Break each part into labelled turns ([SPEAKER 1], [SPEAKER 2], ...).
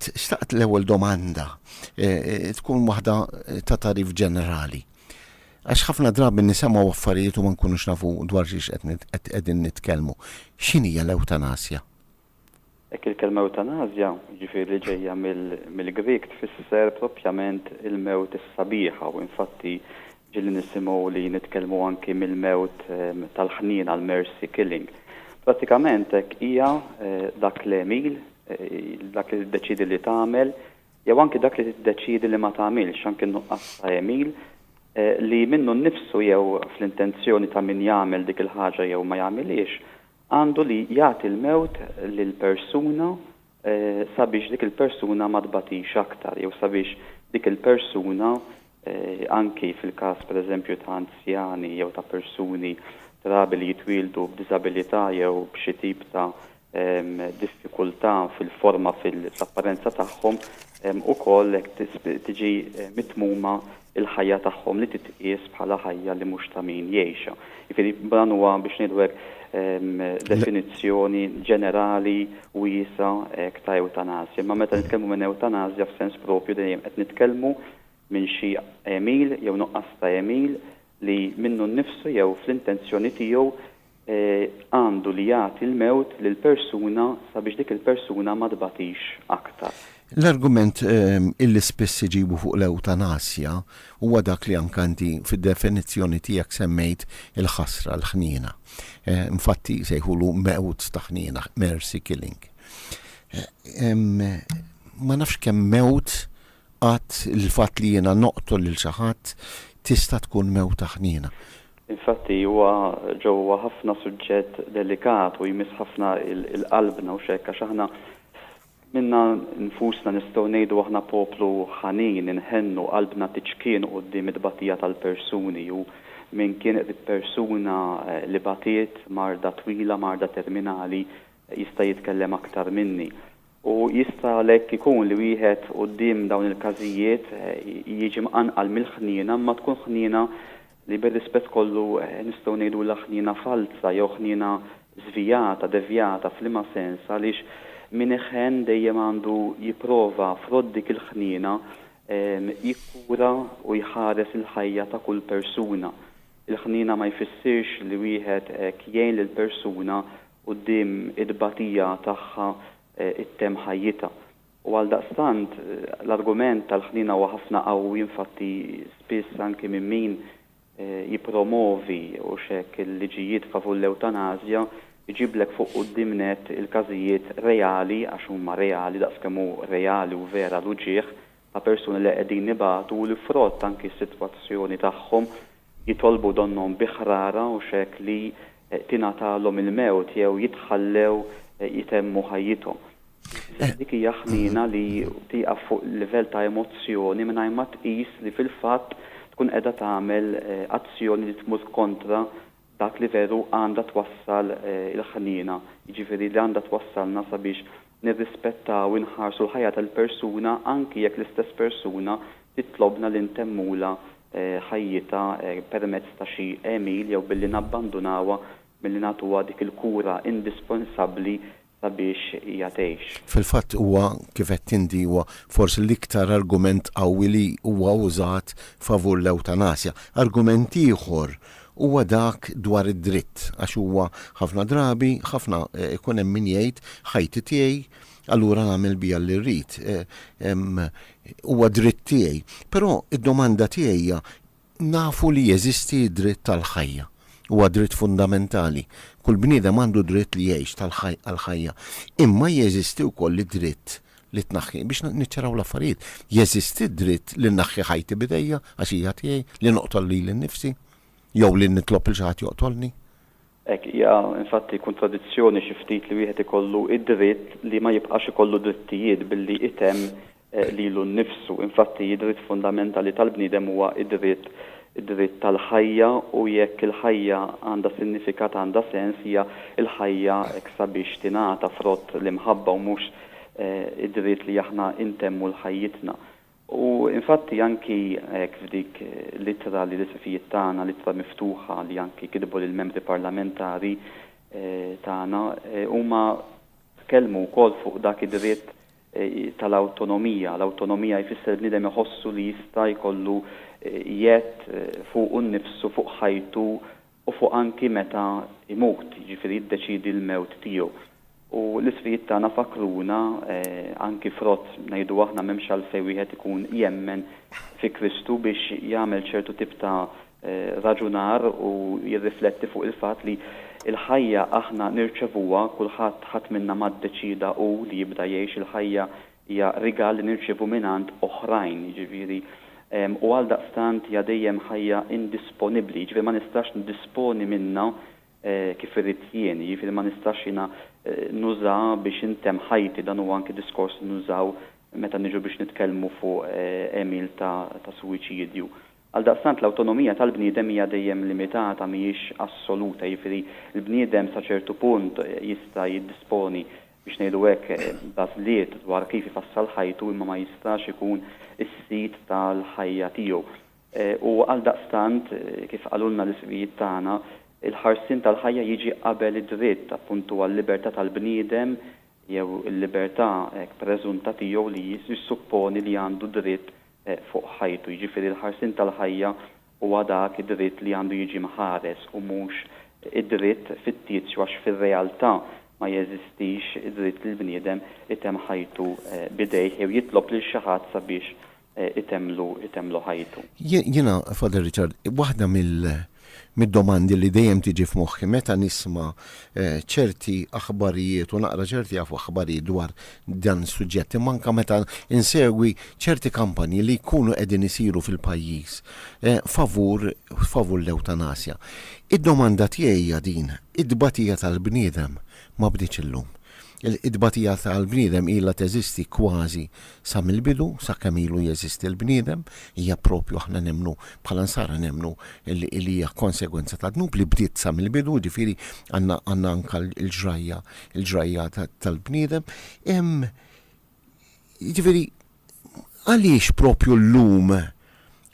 [SPEAKER 1] Xtaqt l-ewwel domanda tkun waħda ta' tagħrif ġenerali. Għax ħafna drabi nisemgħu affarijiet u ma nkunux nafu dwar xiex qed qegħdin nitkellmu. X'inhija l-ewtanasja? Hekk
[SPEAKER 2] il-kelma ewtanasja, jiġifieri li ġejja mill-Grieg tfisser propjament il-mewt is-sabiħa u infatti Ġieli nisimgħu li nitkellmu anki mill-mewt tal-ħniena għall-mercy killing. Prattikament hekk hija dak l-għemil, dak li tiddeċiedi li tagħmel, jew anki dak li tiddeċiedi li ma tagħmilx, anki n-nuqqas ta' għemil, li minnu nnifsu jew fl-intenzjoni ta' min jagħmel dik il-ħaġa jew ma jagħmilhiex, għandu li jagħti l-mewt lil persuna sabiex dik il-persuna ma tbatix aktar jew sabiex dik il-persuna, anki fil-każ pereżempju ta' anzjani jew ta' persuni trabi li jitwieldu b'diżabilità jew b'xi tip ta' diffikultà fil-forma fl-apparenza tagħhom, hemm ukoll hekk tiġi mitmuma l-ħajja tagħhom li titqies bħala ħajja li mhux ta' min jgħixha. Jiġifieri dan huwa biex ngħidu hekk definizzjoni ġenerali wiesgħa hekk ta' ewtanasja. Imma meta nitkellmu minn ewtanasja f'sens proprju dejjem qed nitkellmu minn xi għemil jew nuqqas ta' għemil li minnu nnifsu jew fl-intenzjoni tiegħu għandu li jagħti l-mewt lil persuna sabiex dik il-persuna ma tbatix aktar. L-argument
[SPEAKER 1] illi spiss iġibu fuq l-ewtanasja huwa dak li anke inti fid-definizzjoni tiegħek semmejt il-ħasra, l-ħniena. Infatti jsejħulu mewt ta' ħniena, mercy killing. Ma nafx kemm mewt Qatt, il-fatt li jiena noqtol lil xi ħadd tista' tkun mewta ħniena. Infatti,
[SPEAKER 2] huwa ġo huwa ħafna suġġett delikat u jmiss ħafna il-qalbna hux hekk? Għax aħna minna nfusna nistgħu ngħidu aħna poplu ħanin, inħennu, qalbna tiċkien quddiem it-tbatija tal-persuni u min kien qrib persuna li batiet, marda twila, marda terminali, jista' jitkellem aktar minni. U jista' għalhekk ikun li wieħed quddiem dawn il-każijiet jiġi mqanqal mill-ħniena imma tkun ħniena li bir-rispett kollu nistgħu ngħidulha ħniena falza jew ħniena żvijata, devjata, f'liema sens? Għaliex min iħenn dejjem għandu jipprova frott dik il-ħniena jikkura u jħares il-ħajja ta' kull persuna. Il-ħniena ma jfissirx li wieħed hekk jgħin lil persuna quddiem it-tbatija tagħha ttemm ħajjitha. U għaldaqstant, l-argument tal-ħniena huwa ħafna qawwi, infatti spiss anki minn min jippromovi, hux hekk, il-liġijiet favur l-ewtanażja, iġiblek fuq quddiem nett il-każijiet reali, għax huma reali daqs kemm hu reali u vera l-uġigħ, ta' persuni li qegħdin ibatu u li frott anki s-sitwazzjoni tagħhom jitolbu donnhom bi ħrara u x'hekk li tingħatalhom il-mewt jew jitħallew jtemmu ħajjithom. Insomma dik hija ħniena li tieqaf fuq livell ta' emozzjoni mingħajr ma tqis li fil-fatt tkun qiegħda tagħmel azzjoni li tmur kontra dak li veru għandha twassal il-ħniena, jiġifieri li għandha twassalna sabiex nirrispettaw u nħarsu l-ħajja tal-persuna anki jekk l-istess persuna titlobna li ntemmulha ħajjitha permezz ta' xi għemil jew billi nabbandunawha milli nagħtuha dik il-kura indispensabbli sabiex hija tgħix. Fil-fatt huwa,
[SPEAKER 1] kif għedt inti, huwa forsi l-iktar argument qawwi li huwa użat favur l-ewtanasja. Argument ieħor huwa dak dwar id-dritt, għax huwa ħafna drabi, ħafna, ikun hemm min jgħid, ħajti tiegħi, allura nagħmel biha li rrid. Huwa dritt tiegħi. Però d-domanda tiegħi hija, Nafu li jeżisti d-dritt għall-ħajja. Huwa dritt fundamentali. Kull bniedem għandu d-dritt li jgħix għall-ħajja. Imma jeżisti wkoll id-dritt li tnaħħi, biex niċċaraw l-affarijiet, jeżisti d-dritt li nnaħħi ħajti b'idejja, għax hija tiegħi, li noqtol lili nnifsi, jew li nitlob lil xi ħadd joqtolni. Hekk hija
[SPEAKER 2] infatti kuntradizzjoni xi ftit li wieħed ikollu d-dritt li ma jibqax ikollu drittijiet billi jtemm lilu nnifsu. Infatti id-dritt fundamentali tal-bniedem huwa d-dritt id-dritt tal-ħajja u jekk il-ħajja għandha sinifikat għandha sens hija l-ħajja hekk sabiex tingħata frott l-imħabba u mhux id-dritt li aħna ntemmu l-ħajjitna. U infatti anki hekk f'dik l-ittra li l-isqfijiet tagħna, l-ittra miftuħa li anki kitbu lill-membri parlamentari tagħna, huma tkellmu wkoll fuq dak id-dritt tal-awtonomija. L-awtonomija jfisser li bniedem iħossu li jista' jkollu jedd fuqu nnifsu, fuq ħajtu u fuq anki meta jmut, jiġifieri jiddeċiedi l-mewt tiegħu. U l-isqfijiet tagħna fakkruna, anki frott, ngħidu aħna m'hemmx għalfejn wieħed ikun jemmen fi Kristu biex jagħmel ċertu tip ta' raġunar u jirrifletti fuq il-fatt li l-ħajja aħna nirċevuha, kulħadd, ħadd minna ma ddeċieda hu li jibda jgħix il-ħajja Hija rigal li nirċievu mingħand oħrajn, jiġifieri, u għaldaqstant hija dejjem ħajja indisponibbli, jiġifieri ma nistax ndisponi minnha kif irrid jien, jiġifieri ma nistax jiena nuża biex intemm ħajti, dan huwa anki diskors li nużaw meta niġu biex nitkellmu fuq għemil ta' suwiċidju. Għaldaqstant l-awtonomija tal-bniedem hija dejjem limitata, mhijiex assoluta, jiġifieri l-bniedem sa ċertu punt jista' jiddisponi, biex ngħidu hekk, b'għażliet dwar kif ifassal ħajtu imma ma jistax ikun is-sid tal-ħajja tiegħu. U għaldaqstant, kif qalulna l-isqfijiet tagħna, il-ħarsien tal-ħajja jiġi qabel id-dritt, appuntu, għal-libertà tal-bniedem jew il-libertà hekk preżunta tiegħu li jissupponi li għandu dritt fuq ħajtu, jiġifieri l-ħarsien tal-ħajja huwa dak id-dritt li għandu jiġi mħares u mhux id-dritt fittizju għax fir-realtà ma jeżistix id-dritt li l-bniedem itemm ħajtu b'idejh jew jitlob lil xi ħadd sabiex itemmlu itemmlu ħajtu. Jiena, Father
[SPEAKER 1] Richard, waħda mid-domandi li dejjem tiġi f'moħħi meta nisma' ċerti aħbarijiet u naqra ċerti aħbarijiet dwar dan is-suġġett imma anke meta nsegwi ċerti kampanji li jkunu qegħdin isiru fil-pajjiż favur favur l-ewtanasja. Id-domanda tiegħi hija din, it-tbatija tal-bniedem ma bdietx illum. Il-tbatija tal-bniedem ilha teżisti kważi sa mill-bidu, sa kemm ilu jeżisti l-bniedem, hija proprju aħna nemmnu, bħala Nsara nemmnu li hija konsegwenza tad-dnub li bdiet sa mill-bidu, jiġifieri għandna anka l-ġrajja, il-ġrajja tal-bniedem. Hemm Jiġifieri, għaliex propju llum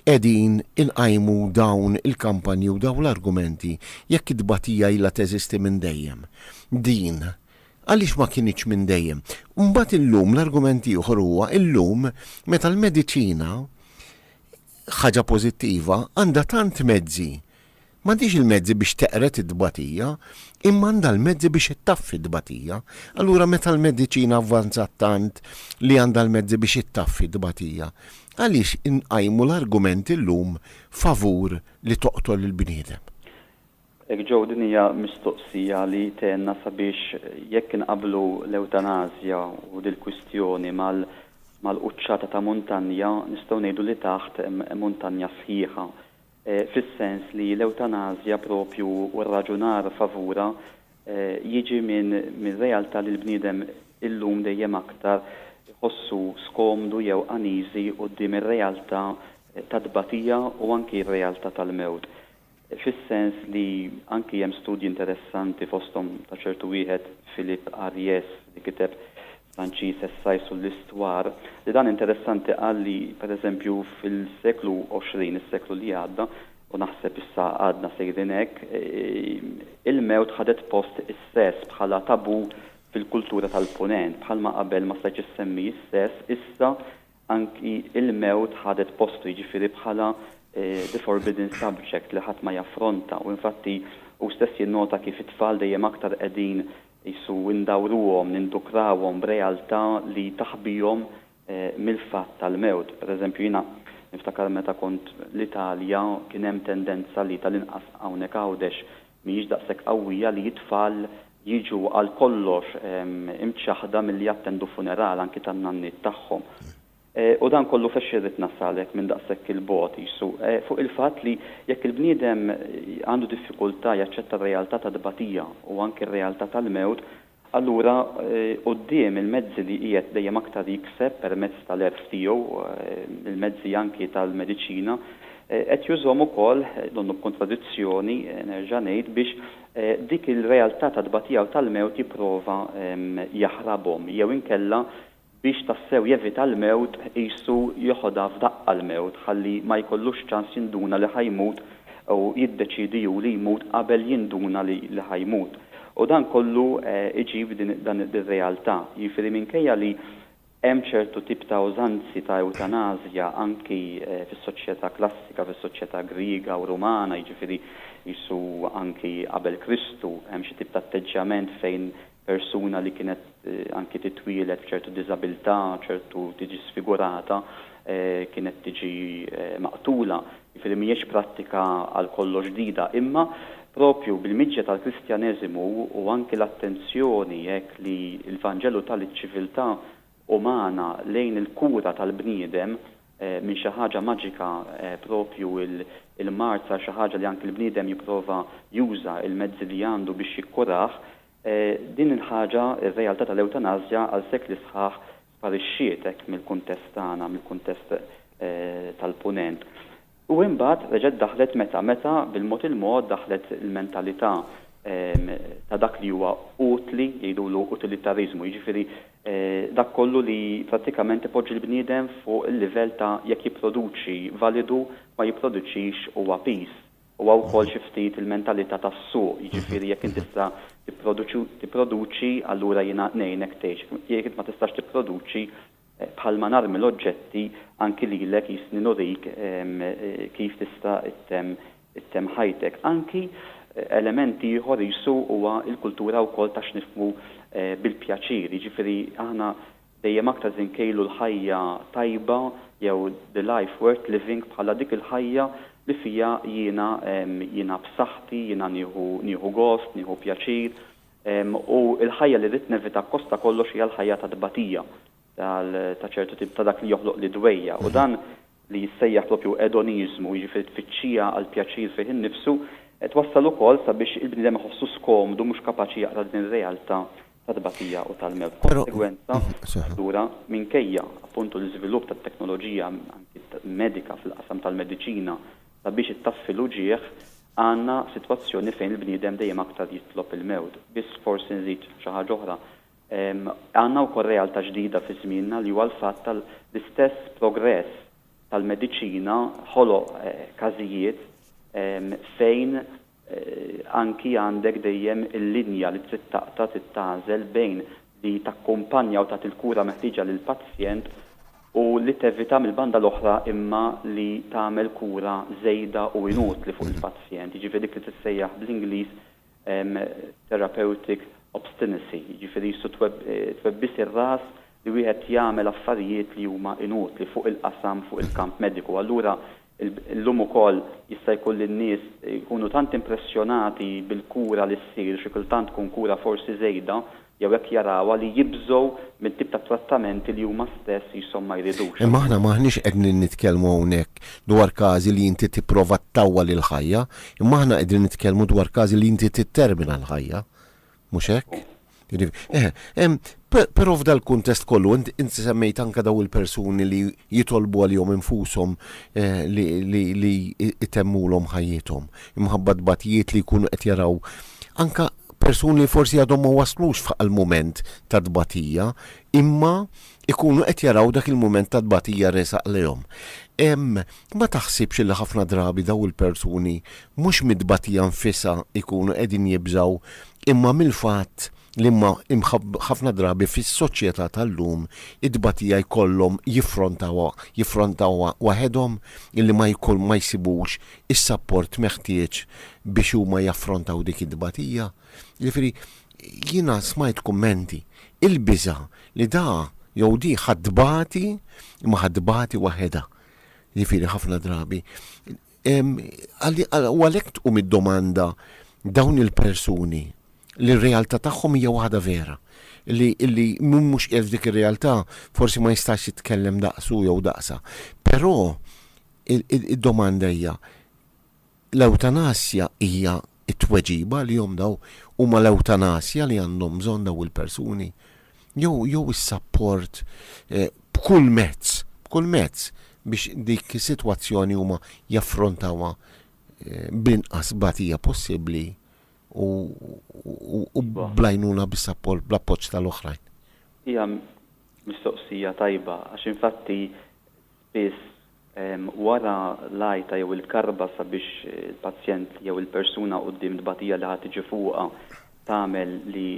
[SPEAKER 1] qegħdin inqajmu dawn il-kampanji u dawn l-argumenti jekk it-tbatija ilha teżisti minn dejjem? Din, għaliex ma kinitx minn dejjem? Mbagħad illum l-argument ieħor huwa illum meta l-mediċina, ħaġa pożittiva, għandha tant mezzi, M'għandhiex il-mezzi biex teqred it-tbatija, imma għandha l-mezzi biex ittaffi t-tbatija. Allura meta l-mediċina avvanzat tant li għandha l-mezzi biex ittaffi t-tbatija, għaliex inqajmu l-argument illum favur li toqtol il-bniedem? Hekk
[SPEAKER 2] Joe din hija mistoqsija li tgħinna sabiex jekk inqabblu l-ewtanasja u dil-kwistjoni mal-quċċata ta' muntanja nistgħu ngħidu li taħt hemm muntanja sħiħa. fis-sens li l-ewtanasja proprju u r-raġunar favurha jiġi minn realtà li l-bniedem illum dejjem aktar iħossu skomdu jew uneasy quddiem ir-realtà tat-tbatija u anki r-realtà tal-mewt. Fis-sens li anki hemm studji interessanti fosthom ta' ċertu wieħed Philippe Ariès li kiteb Franċiż essai sur l'histoire, li dan interessanti qal li, per eżempju, fil-seklu għoxrin, is-seklu li għadda, u naħseb issa għadna sejrin hekk, il-mewt ħadet post is-sess bħala tabù fil-kultura tal-Punent. Bħalma qabel ma stajtx issemmi s-sess, issa anki il-mewt ħadet postu, jiġifieri bħala the forbidden subject li ħadd ma jaffronta. U infatti hu stess jinnota kif it-tfal dejjem aktar qegħdin Qisu ndawruhom, nindukrawhom b'realtà li taħbihom mill-fatt tal-mewt. Per eżempju, jiena niftakar meta kont l-Italja kien hemm tendenza li tal-inqas hawnhekk Għawdex mhijiex daqshekk qawwija li t-tfal jiġu għal kollox imċaħħda milli jattendu funeral anki tan-nanniet tagħhom. U dan kollu f'għax irrid nasallek minn daqshekk 'il bogħod, qisu, fuq il-fatt li jekk il-bniedem għandu diffikultà jaċċetta r-realtà tat-tbatija u anki r-realtà tal-mewt, allura quddiem il-mezzi li qiegħed dejjem aktar jikseb permezz tal-għerf tiegħu, il-mezzi anki tal-mediċina, qed jużhom ukoll, donnu b'kuntradizzjoni, nerġa' ngħid, biex dik il-realtà tat-tbatija u tal-mewt jipprova jaħrabhom jew inkella Biex tassew jevita l-mewt qisu jeħodha f'daqqa l-mewt ħalli ma jkollux ċans jinduna li ħa jmut u jiddeċiedi hu li jmut qabel jinduna li li ħa jmut. U dan kollu iġib din dan ir-realtà. Jiġifieri minkejja li hemm ċertu tip ta' użanzi ta' ewtanasja anki fis-soċjetà klassika, fis-soċjetà Griega u Rumana jiġifieri qisu anki qabel Kristu hemm xi tip ta' atteġġjament fejn persuna li kienet anki titwieled b'ċertu diżabilità, ċertu tiġi sfigurata, kienet tiġi maqtula. Jiġifieri mhijiex prattika għal kollox ġdida. Imma proprju bil-miġja tal-Kristjaneżimu u anki l-attenzjoni hekk li l-Vanġelu ta liċ-ċiviltà umana lejn il-kura tal-bniedem, minn xi ħaġa maġika proprju l-mard sar xi ħaġa li anki l-bniedem jipprova juża l-mezzi li għandu biex jikkurah, din il-ħaġa, ir-realtà tal-ewtanasja għal sekli sħaħ sparixxiet hekk mill-kuntest tagħna, mill-kuntest tal-Punent. U imbagħad reġgħet daħlet meta, meta bil-mod il-mod daħlet l-mentalità ta' dak li huwa utli, jgħidulu utilitariżmu, jiġifieri dak kollu li prattikament ipoġġi l-bniedem fuq il-livell ta' jekk jipproduċi validu, ma jipproduċix huwa piż. Huwa wkoll xi ftit il-mentalità tas-suq, jiġifieri jekk int tista' tipproduċi, tipproduċi allura jiena ngħinek tgħix, jekk int ma tistax tipproduċi Bħalma narmi l-oġġetti anki lilek jistni nurik kif tista' ttemm ttemm ħajtek. Anki element ieħor qisu huwa l-kultura wkoll ta' x'nifhmu bil-pjaċir. Jiġifieri aħna dejjem aktar se nkejlu l-ħajja tajba jew the life worth living bħala dik il-ħajja li fiha jiena jiena b'saħħti, jiena nieħu nieħu gost, nieħu pjaċir. U l-ħajja li rrid nevita akkosta kollox hija l-ħajja ta' tbatija, tal, ta' ċertu tip, ta' dak li joħloq l-idwejja. U dan, li jissejjaħ proprju edoniżmu, jiġifieri tfittxija għall-pjaċir fih innifsu, qed wassal ukoll sabiex il-bniedem iħossu skomdu, mhux kapaċi jaqra din ir-realtà ta' tbatija u tal-mewt. B'konsegwenza, allura, minkejja, appuntu, l-iżvilupp tat-teknoloġija, anki medika, fil-qasam tal-mediċina, Sabiex ittaffi l-uġigħ, għandna sitwazzjoni fejn il-bniedem dejjem aktar jitlob il-mewt. Biss forsi nżid xi ħaġa oħra. Għandna wkoll realtà ġdida fi żmienna li huwa l-fatt ta' l-istess progress tal-mediċina ħoloq każijiet fejn anki għandek dejjem il-linja li trid taqta' trid tagħżel bejn li takkumpanja u tagħti l-kura meħtieġa lill-pazjent u li tevita mill-banda l-oħra imma li tagħmel kura żejda u inutli fuq il-pazjent, jiġifieri dik li tissejjaħ bl-Ingliż therapeutic obstinacy, jiġifieri jissu twebbis ir-ras li wieħed jagħmel affarijiet li huma inutli fuq il-qasam, fuq il-kamp mediku. Allura Illum ukoll jista' jkun li n-nies jkunu tant impressjonati bil-kura li ssir, xi kultant tkun kura forsi żejda, jew hekk jarawha, li jibżgħu mit-tip ta' trattamenti li huma stess qishom ma jridux. Imma aħna m'aħniex qegħdnin
[SPEAKER 1] nitkellmu hawnhekk dwar każi li inti tipprova ttawwal il-ħajja, imma aħna qegħdin nitkellmu dwar każi li inti tittermina l-ħajja. Mhux hekk? Jiġifieri, ehm, però f'dal-kuntest kollu inti semmejt anke dawn il-persuni li jitolbu għalihom infushom eh, li jtemmulhom ħajjithom imħabba tbatijiet li jkunu qed jaraw anke persuni li forsi għadhom ma waslux f'għal mument ta' tbatija imma ikunu qed jaraw dak il-mument ta' tbatija resaq lejhom. Ma taħsibx li ħafna drabi dawn il-persuni mhux mit-tbatija nfisha jkunu qegħdin jibżgħu imma mill-fatt li ħafna drabi fis-soċjetà tal-lum it-tbatija jkollhom jiffrontawha waħedhom illi ma jsibux is-sapport meħtieġ biex huma jaffrontaw dik it-tbatija? Jiġifieri jiena smajt kummenti, il-biża' li da jew di ħa tbati imma ħa tbati waħedha. Jiġifieri ħafna drabi. U għalhekk tqum id-domanda dawn il-persuni li r-realtà tagħhom hija waħda vera li illi mhux qiegħed f'dik ir-realtà forsi ma jistax jitkellem daqsu jew daqsa. Però id-domanda hija L-ewtanasja hija t-tweġiba għalihom daw? Huma l-ewtanasja li għandhom bżonn daw il-persuni? Jew jew is-sapport b'kull mezz, b'kull mezz biex dik is-sitwazzjoni huma jaffrontawha bl-inqas tbatija possibbli u u bl-għajnuna bis-sapport, bl-appoġġ tal-oħrajn? Hija
[SPEAKER 2] mistoqsija tajba għax infatti biss wara l-għajta jew il-karba sabiex il-pazjent jew il-persuna quddiem tbatija li ħa tiġi fuqha tagħmel li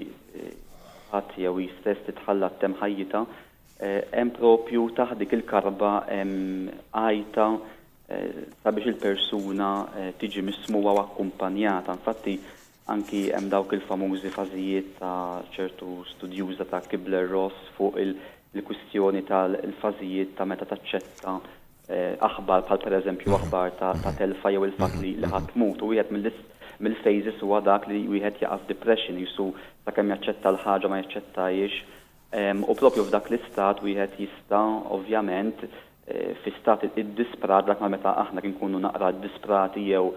[SPEAKER 2] ħadd jew hi stess titħalla ttemm ħajjitha, hemm proprju taħt dik il-karba hemm għajta sabiex il-persuna tiġi mismugħa u akkumpanjata. Infatti Anki hemm dawk il-famużi fażijiet ta' ċertu studjuża ta' Kübler-Ross fuq il-kwistjoni tal-fażijiet ta' meta taċċetta aħbar bħal pereżempju aħbar ta' telfa jew il-fatt li ħadd tmut. U wieħed mill-phases huwa dak li wieħed jaqa' f'depression, qisu sakemm jaċċetta l-ħaġa ma jaċċettahiex. U proprju f'dak l-istat wieħed jista', ovvjament, fi stat iddisprat, dak ma meta aħna nkunu naqra ddisprati jew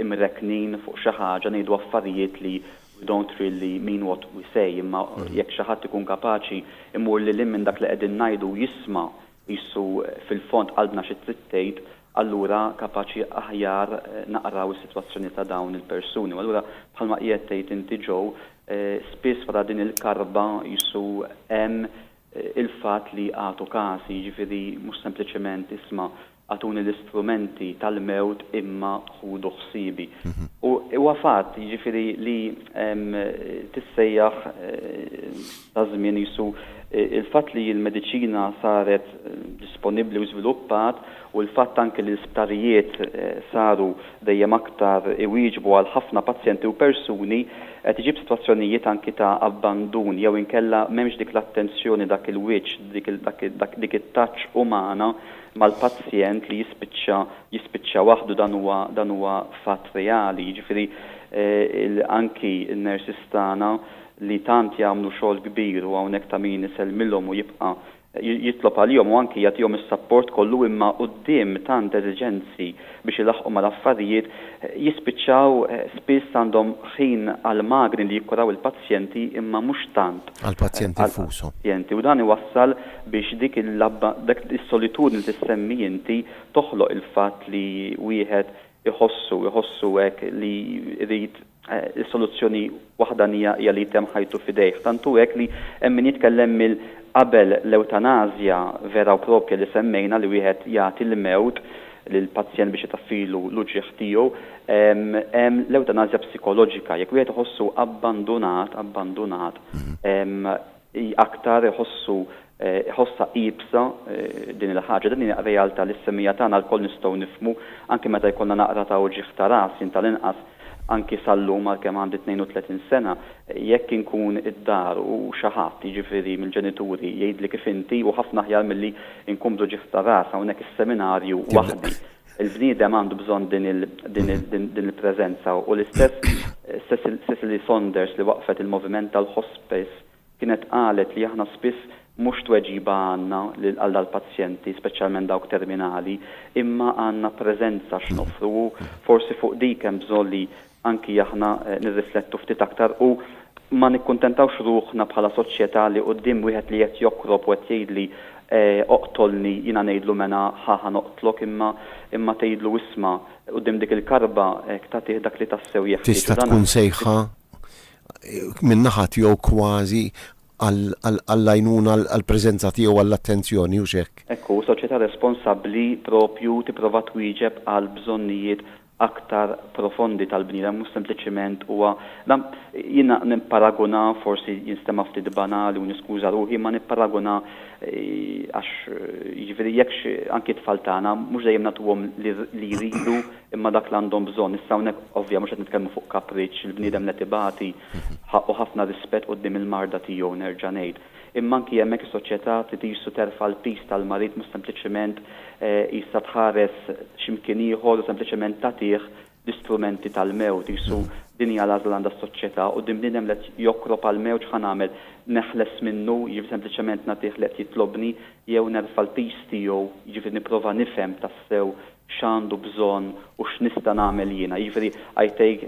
[SPEAKER 2] imrekknin fuq xi ħaġa ngħidu affarijiet li we don't really mean what we say, imma jekk xi ħadd ikun kapaċi jmur lil hinn minn dak li qegħdin ngħidu u jisma' Qisu fil-fond qalbna xi trid tgħid, allura kapaċi aħjar naqraw is-sitwazzjoni ta' dawn il-persuni. U allura bħalma qiegħed tgħid inti Joe, spiss wara din il-karba qisu hemm il-fatt li agħtu każi, jiġifieri mhux sempliċement isma' agħtuni l-istrumenti tal-mewt imma ħudu ħsiebi. U huwa fatt, jiġifieri li tissejjaħ, taż-żmien qisu l-fatt li l-mediċina saret disponibbli u żviluppat u l-fatt anke li l-isptarijiet saru dejjem aktar iwieġbu għal ħafna pazjenti u persuni qed iġib sitwazzjonijiet anke ta' abbandun jew inkella m'hemmx dik l-attenzjoni dak il-wiċċ dik it-touch umana mal-pazjent li jispiċċa jispiċċa waħdu dan huwa dan huwa fatt reali jiġifieri anke n-nurses tagħna li tant jagħmlu xogħol kbir u hawnhekk ta' min isellmilhom u jibqa' jitlob għalihom u anki jagħtihom is-sapport kollu imma quddiem tant eżiġenzi biex ilaħħqu mal-affarijiet jispiċċaw spiss għandhom ħin għall-magni li jikkuraw il-pazjenti imma mhux tant għall-pazjenti nfushom.
[SPEAKER 1] Pazjenti u dan iwassal
[SPEAKER 2] biex dik il-labba dak is-solitudni li tissemmi inti toħloq il-fatt li wieħed iħossu iħossu hekk li jrid Is-soluzzjoni waħdanija hija li jtemm ħajtu f'idejh. Tant hu hekk li hemm min jitkellem mill qabel l-ewtanasja vera u proprja li semmejna, li wieħed jagħti l-mewt lill-pazjent biex itaffilu l-uġigħ tiegħu. Hemm l-ewtanasja psikoloġika, jekk wieħed iħossu abbandunat, abbandunat, Hi aktar iħossu, iħossha iebsa din il-ħaġa. Din hi realtà li s-semmija tagħna lkoll nistgħu nifhmu, anki meta jkollna naqra ta' uġigħ ta' ras, jien tal-inqas, anki sal-lum għalkemm għandi 32 sena, jekk inkun id-dar u xi ħadd, jiġifieri mill-ġenituri, jgħidli kif inti u ħafna aħjar milli nkun bl-uġigħ ta' ras hawnhekk is-seminarju waħdi. Il-bniedem għandu bżonn din il-preżenza u l-istess Cicely Saunders li waqqfet il-moviment tal-hospice kienet qalet li aħna spiss mhux tweġiba għandna għal dal-pazjenti, speċjalment dawk terminali, imma għandna preżenza x'noffru u forsi fuq dik hemm bżonn li anki aħna nirriflettu ftit aktar u ma nikkuntentawx ruħna bħala soċjetà li quddiem wieħed li qed jokrob u qed jgħidli oqtolni jiena ngħidlu mela ħa ħa noqtlok imma imma tgħidlu isma' quddiem dik il-karba hekk tagħtih dak li tassew jeħtieġ u dan Tista' tkun sejħa
[SPEAKER 1] minn naħa tiegħu kważi għal għall-għajnuna għall-preżenza tiegħu għall-attenzjoni hux hekk? Hekk hu, soċjetà
[SPEAKER 2] responsabbli proprju tipprova twieġeb għall-bżonnijiet aktar profondi tal-bniedem, mhux sempliċiment huwa, dan jiena nipparagunah, forsi jinstema' ftit banali u niskuża ruħi, imma nipparagunah għax jiġifieri jekk xi, anki t-tfal tagħna, mhux dejjem nagħtuhom li jridu imma dak li għandhom bżonn. Issa hawnhekk ovvja mhux qed nitkellmu fuq kapriċċ, il-bniedem li qed ibati ħaqqu ħafna rispett quddiem il-marda tiegħu, nerġa' ngħid. Imma anki hemmhekk is-soċjetà trid iqisu terfa' l-piż tal-marid mhux sempliċement qisha tħares xi mkien ieħor u sempliċement tagħtih l-istrumenti tal-mewt. Qisu din hija l-għażla li għandha s-soċjetà. Quddiem bniedem li qed jokrob għall-mewt x'ħa nagħmel? Neħles minnu, jiġifieri sempliċement nagħtih li qed jitlobni, jew nerfa' l-piż tiegħu, jiġifieri nipprova nifhem tassew x'għandu bżonn u x'nista' nagħmel jiena. Jiġifieri I take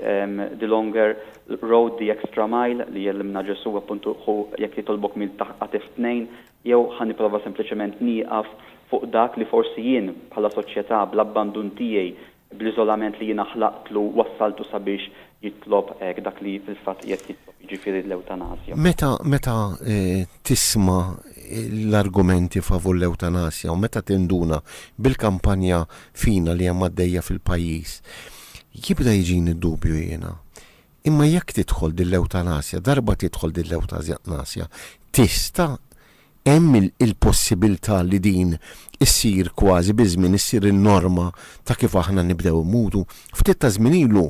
[SPEAKER 2] the longer road, the extra mile li jgħellimna Ġesù, appuntu ħu jekk jitolbok mil taħt qatih tnejn, jew ħa nipprova sempliċement nieqaf fuq dak li forsi jien bħala soċjetà bl-abbandun tiegħi, bl-iżolament li jiena ħlaqtlu wassaltu sabiex jitlob hekk dak li fil-fatt qiegħed jitlob, jiġifieri l-ewtanasja. Meta meta
[SPEAKER 1] tisma' l-argumenti favur l-ewtanasja u meta tinduna bil-kampanja fina li hemm għaddejja fil-pajjiż, jibda jiġini d-dubju jiena. Imma jekk tidħol din l-ewtanasja, darba tidħol din l-ewtanasja, tista' Hemm il-possibiltà li din issir kważi biż-żmien issir in-norma ta' kif aħna nibdew immutu. Ftit ta' żmien ilu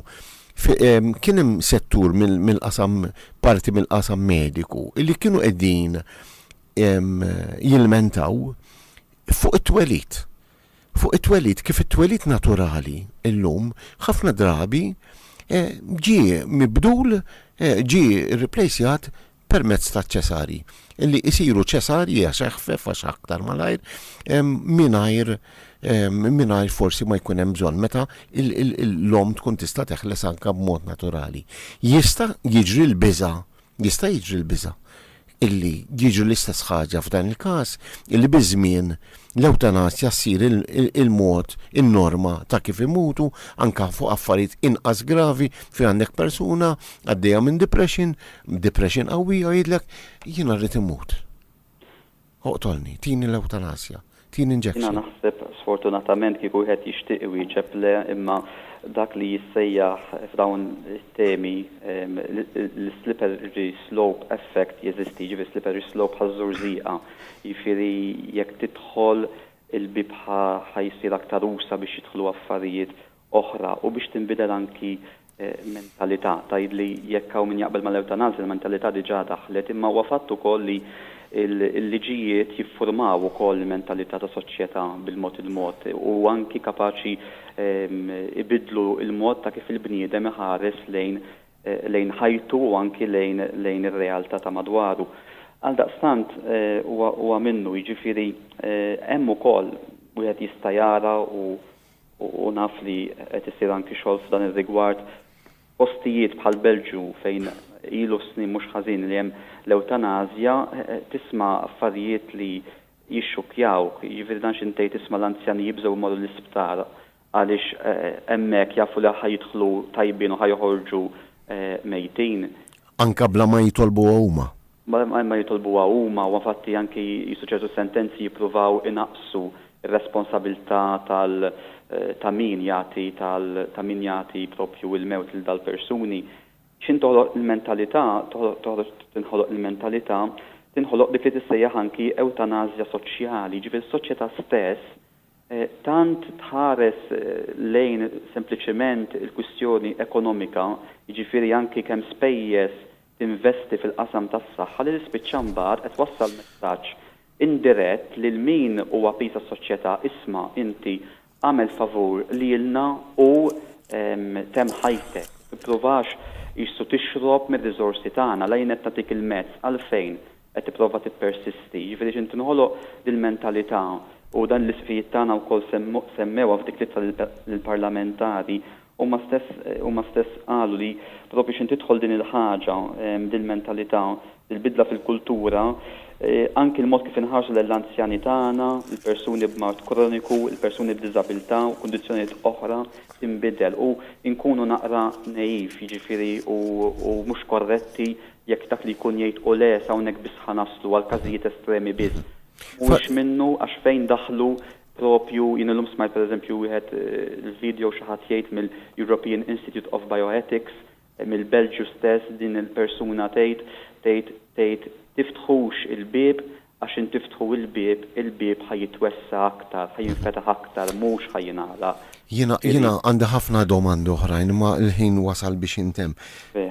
[SPEAKER 1] kien hemm settur mill-qasam parti mill-qasam mediku li kienu qegħdin jilmentaw fuq it-twelid. Fuq it-twelid, kif it-twelid naturali llum ħafna drabi ġie mibdul, ġie rriplejsjat permezz taċ-ċesarji, li jsiru ċesarji għax eħfef għax aktar malajr, mingħajr mingħajr forsi ma jkun hemm bżonn meta l-omm tkun tista' teħles anke b'mod naturali. Jista' jiġri l-biża' jista' jiġri l-biża' illi jiġri l-istess ħaġa f'dan il-każ illi biż-żmien l-ewtanasja ssir il-mod in-norma ta' kif imutu anke fuq affarijiet inqas gravi fejn għandek persuna għaddejja minn depression B'dipression qawwi jgħidlek, jiena rrid immut. Oqtolni, tini l-ewtanasja, tini injection. Jiena naħseb,
[SPEAKER 2] sfortunatament, kieku wieħed jixtieq iwieġeb le, imma dak li jissejjaħ f'dawn it-temi l-slippery slope effect jeżisti, jiġifieri slippery slope bħaż-żurżieqa. Jiġifieri jekk tidħol il-bieb ħa jsir aktar usa' biex jidħlu affarijiet oħra u biex tinbidel anki mentalità. Tgħid li jekk hawn min jaqbel mal-ewtanasja il-mentalità diġà daħlet imma huwa fatt ukoll li l-liġijiet jiffurmaw ukoll il-mentalità ta' soċjetà bil-mod il-mod u anki kapaċi jbiddlu l-mod ta' kif il-bniedem iħares lejn ħajtu u anki lejn ir-realtà ta' madwaru. Għaldaqstant huwa minnu, jiġifieri hemm ukoll wieħed jista' jara u u naf li qed isir anki xogħol f'dan ir-rigward f'postijiet bħall-Belġju fejn ilu snin mhux ħażin li hemm l-ewtanasja, tisma' affarijiet li jixxukkjawk. Jiġifieri dan xi ntej tisma' l-anzjani jibżgħu jmorru l-isptar għaliex hemmhekk jafu li ħa jidħlu tajbin u ħa joħorġu mejtin. Anke
[SPEAKER 1] bla ma jitolbuha huma. Mingħajr ma jitolbuha
[SPEAKER 2] huma, huwa fatt li anki jistgħu ċertu sentenzi jippruvaw inaqqsu r-responsabilità tal ta' min jagħti tal ta' min jagħti proprju il-mewt lil dal-persuni. X'inhi toħloq il-mentalità, toħloq toħroġ tinħoloq il-mentalità, tinħoloq dik li tissejjaħ anki ewtanasja soċjali, jiġifieri s-soċjetà stess tant tħares lejn sempliċement il-kwistjoni ekonomika, jiġifieri anki kemm spejjeż tinvesti fil-qasam tas-saħħa li tispiċċa mbagħad qed twassal messaġġ indirett lil min hu għapiż għas-soċjetà, isma' inti agħmel favur lilna u temm ħajtek, tippruvax qisu tixrob mir-riżorsi tagħna, la jien qed nagħtik il-mezz għalfejn qed tipprova tippersisti. Jiġifieri x'in tinħoloq dil-mentalità u dan l-isqfijiet tagħna wkoll semmewha f'dik l-ittra lill-parlamentari Huma stess huma stess qalu li propju x'in tidħol din il-ħaġa, din il-mentalità, il-bidla fil-kultura, anki l-mod kif inħarsu lejn l-anzjani tagħna, il-persuni b'mard kroniku, il-persuni b'diżabilità u kundizzjonijiet oħra tinbidel u nkunu naqra naive, jiġifieri u u mhux korretti jekk dak li jkun jgħid hu le sa hawnhekk biss ħa naslu, għall-każijiet estremi biss. Mhuwiex minnu għax fejn daħlu Proprju jien illum smajt pereżempju wieħed il-video xi ħadd jgħid mill-European Institute of Bioethics mill-Belġju stess din il-persuna tgħid tgħid tgħid tiftħux il-bieb għax intiftħu il-bieb il-bieb ħa jitwessa' aktar, ħa jinfetaħ aktar mhux ħa jingħalaq. Jiena, jiena
[SPEAKER 1] għandi ħafna domandi oħrajn imma l-ħin wasal biex jintemm.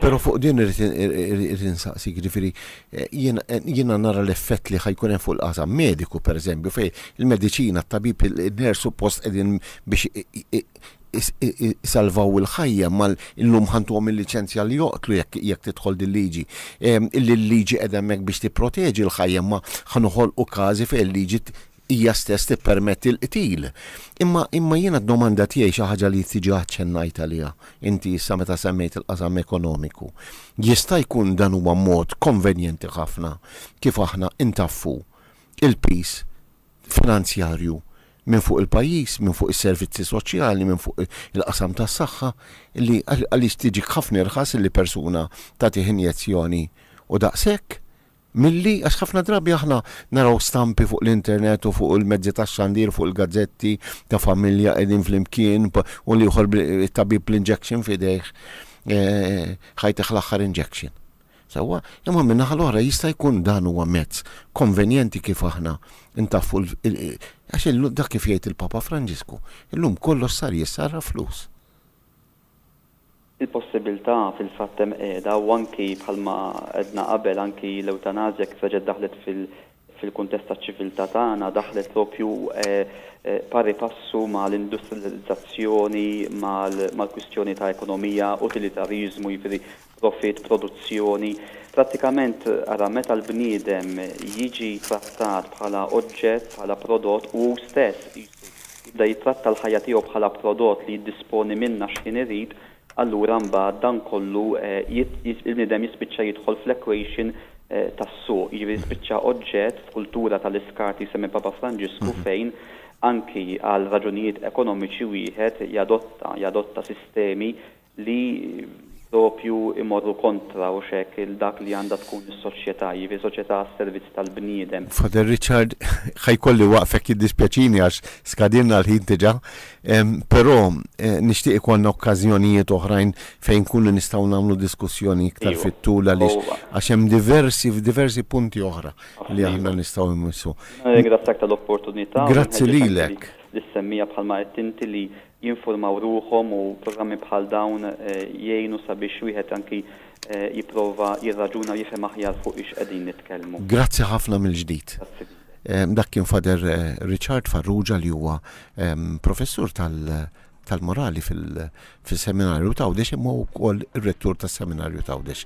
[SPEAKER 1] Però fuq din irrid, irrid insaqsik, jiġifieri jiena, jiena nara l-effett li ħa jkun hemm fuq il-qasam mediku pereżempju fejn il-mediċina, t-tabib, in-nurse suppost qegħdin biex isalvaw il-ħajja imma llum ħa ntuhom il-liċenzja li joqtlu jekk, jekk tidħol din liġi. Il-liġi qiegħda hemmhekk biex tipproteġi l-ħajja imma ħa noħolqu każi fejn il-liġi hija stess tippermetti l-qtil. Imma, imma jiena d-domanda tiegħi xi ħaġa li diġà aċċennajt għaliha inti issa meta semmejt il-qasam ekonomiku. Jista' jkun dan huwa mod konvenjenti ħafna kif aħna ntaffu l-piż finanzjarju minn fuq il-pajjiż, minn fuq is-servizzi soċjali, minn fuq il-qasam tas-saħħa, li għaliex tiġik ħafna irħas li persuna tagħtih injezzjoni u daqshekk? Milli, għax ħafna drabi aħna naraw stampi fuq l-internet u fuq il-mezzi tax-xandir u fuq il-gazzetti ta' familja qegħdin flimkien u l-ieħor bit-tabib bl-injection f'idejh, ħajtek l-aħħar injection. Sewwa, imma min-naħa l-oħra jista' jkun dan huwa mezz konvenjenti kif aħna ntaffu l, għax dak kif jgħid il-Papa Franġisku, illum kollox sar jissarraf flus.
[SPEAKER 2] Il-possibilità fil-fatt hemm qiegħda u anki bħalma għedna qabel anki l-ewtanasja kif reġgħet daħlet fil-kuntest taċ-ċiviltà tagħna daħlet propju pari passu ma' l-industrilizzazzjoni mal-kwistjoni ta' ekonomija, utilitarjiżmu, jiġifieri profitt, produzzjoni, prattikament ara meta l-bniedem jiġi trattat bħala oġġett, bħala prodott u hu stess qisu jibda jittratta l-ħajja tiegħu bħala prodott li jiddisponi minnha x'ħin irid, allura mbagħad dan kollu il-bniedem jispiċċa jidħol fl-equation tas-suq, jiġifieri jispiċċa oġġett f'kultura tal-iskart li jsemmi Papa Franġisku fejn anki għal raġunijiet ekonomiċi wieħed jadotta jadotta sistemi li proprju jmorru kontra hux hekk il dak li għandha tkun is-soċjetà, jiġifieri soċjetà għas-servizz tal-bniedem. Father Richard,
[SPEAKER 1] ħa jkolli waqfek jiddispjaċini għax skadilna l-ħin diġà, però nixtieq ikollna okkażjonijiet oħrajn fejn inkunu nistgħu nagħmlu diskussjoni iktar fit-tul għaliex għax hemm diversi f'diversi punti oħra li aħna nistgħu immissu. Nirringrazzjak
[SPEAKER 2] tal-opportunità u nħeġġeġ anki
[SPEAKER 1] lis-semmiegħa bħalma
[SPEAKER 2] għedt inti li jinfurmaw ruħhom u programmi bħal dawn jgħinu sabiex wieħed anki jipprova jirraġuna u jifhem aħjar fuq ix qegħdin nitkellmu. Grazzi ħafna
[SPEAKER 1] mill-ġdid. Grazzi lilek. Dak kien Father Richard Farrugia li huwa Professur tal-Morali fis-Seminarju t'Għawdex imma hu wkoll ir-Rettur tas-Seminarju t'Għawdex.